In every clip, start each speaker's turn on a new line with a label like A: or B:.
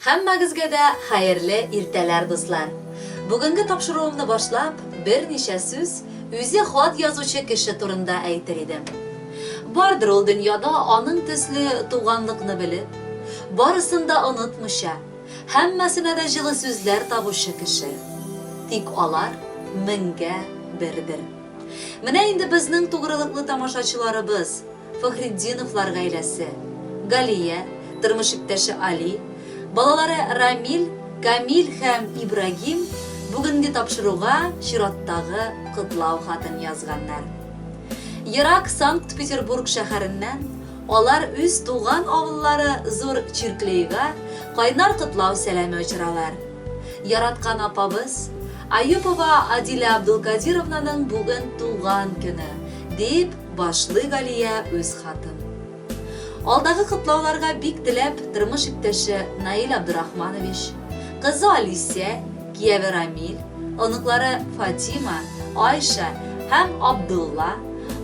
A: Һәммәгезгә дә хәерле иртәләр дуслар! Бүгенге тапшыруымны башлап, берничә сүз үзе хат язучы кеше турында әйтер идем. Бардыр ул дөньяда аның төсле туганлыкны белеп, барысын да онытмыйча, һәммәсенә дә җылы сүзләр табучы кеше. Тик алар меңгә бердер. Менә инде безнең тугрылыклы тамашачыларыбыз, Фәхретдиновлар гаиләсе, Галия, тормыш иптәше Али, балалары Рамил, Камил һәм Ибрагим бүгенге тапшыруга чираттагы котлау хатын язганнар. Ерак Санкт-Петербург шәһәреннән алар үз туган авыллары Зур Чирклейга кайнар котлау сәламе очыралар. Яраткан апабыз, Аюпова Адилә Абдулкадировнаның бүген туган көне, дип башлый Галия үз хатын. Алдагы котлауларга бик теләп, тормыш иптәше Наил Абдурахманович, кызы Алисия, кияве Рамил, оныклары Фатима, Айша һәм Абдулла,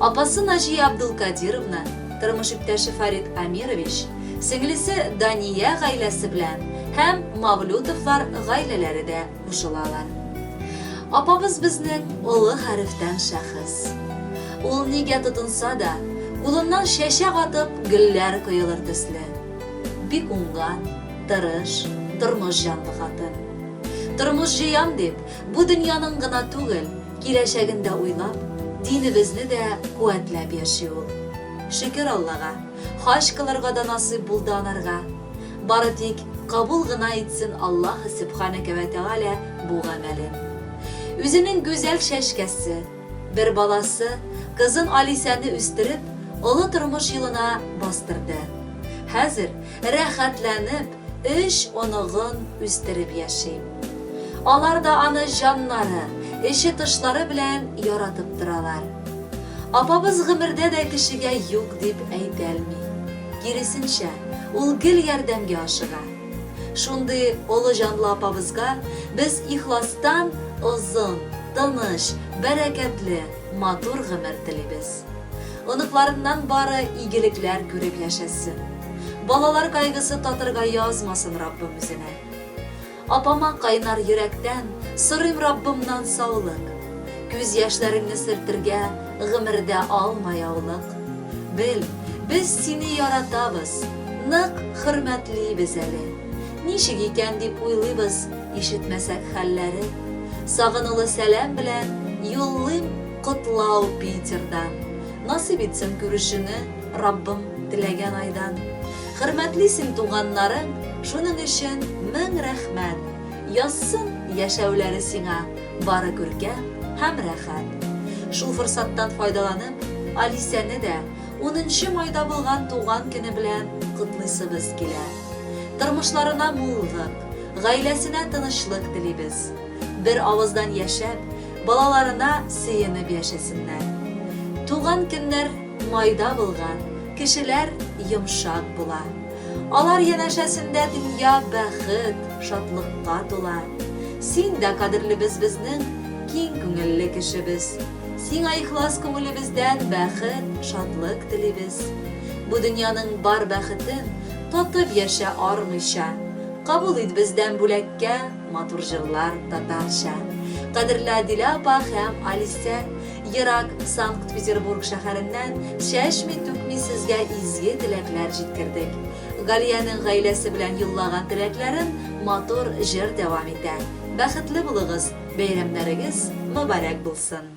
A: апасы Наҗия Абдулкадировна, тормыш иптәше Фарит Амирович, сеңлесе Дания гаиләсе белән һәм Мавлютовлар гаиләләре дә кушылалар. Апабыз безнең олы хәрефтән шәхес. Ул нигә тотынса да, кулыннан чәчәк атып, гөлләр коелыр төсле. Бик уңган, тырыш, тормыш җанлы хатын. Тормыш җыям дип, бу дөньяның гына түгел, киләчәген дә уйлап, динебезне дә куәтләп яши ул. Шөкер Аллага, хаҗ кылырга да насыйп булды анарга. Бары тик кабул гына итсен Аллаһ Сөбханәкә вә Тәгалә бу гамәлен. Үзенең гүзәл чәчкәсе, бер баласы, кызын Алисәне үстереп, олы тормыш юлына бастырды. Хәзер рәхәтләнеп өч оныгын үстереп яши. Алар да аны җаннары, эче-тышлары белән яратып торалар. Апабыз гомердә дә кешегә юк дип әйтәлми. Киресенчә, ул гел ярдәмгә ашыга. Шундый олы җанлы апабызга без ихластан озын, тыныч, бәрәкәтле, матур гомер телибез. Оныкларыннан бары игелекләр күреп яшәсен. Балалар кайгысы татырга язмасын Раббым үзенә. Апама кайнар йөрәктән сорыйм Раббымнан саулык. Күз яшьләреңне сөртергә гомердә алма яулык. Бел, без сине яратабыз, нык хөрмәтлибез әле. Ничек икән дип уйлыйбыз, ишетмәсәк хәлләре. Сагынулы сәлам белән юллыйм котлау Питердан. Насыйп итсен күрешүне Раббым теләгән айдан. Хөрмәтле син туганнарың, шуның өчен мең рәхмәт! Язсын яшәүләре сиңа бары күркәм һәм рәхәт! Шул форсаттан файдаланып, Алисәне дә унынчы майда булган туган көне белән котлыйсыбыз килә. Тормышларына муллык, гаиләсенә тынычлык телибез. Бер авыздан яшәп, балаларына сөенеп яшәсеннәр. Туган көннәр. Майда булган кешеләр йомшак була. Алар янәшәсендә дөнья бәхет, шатлыкка тула. Син дә кадерлебез безнең киң күңелле кешебез. Сиңа ихлас күңелебездән бәхет, шатлык телибез. Бу дөньяның бар бәхетен татып яшә армыйча. Кабул ит бездән бүләккә матур җырлар татарча. Кадерле Адилә апа һәм Алисә! Ерак Санкт-Петербург шәһәреннән чәчми-түкми сезгә изге теләкләр җиткердек. Галиянең гаиләсе белән юллаган теләкләрен матур җыр дәвам итә. Бәхетле булыгыз, бәйрәмнәрегез мөбарәк булсын!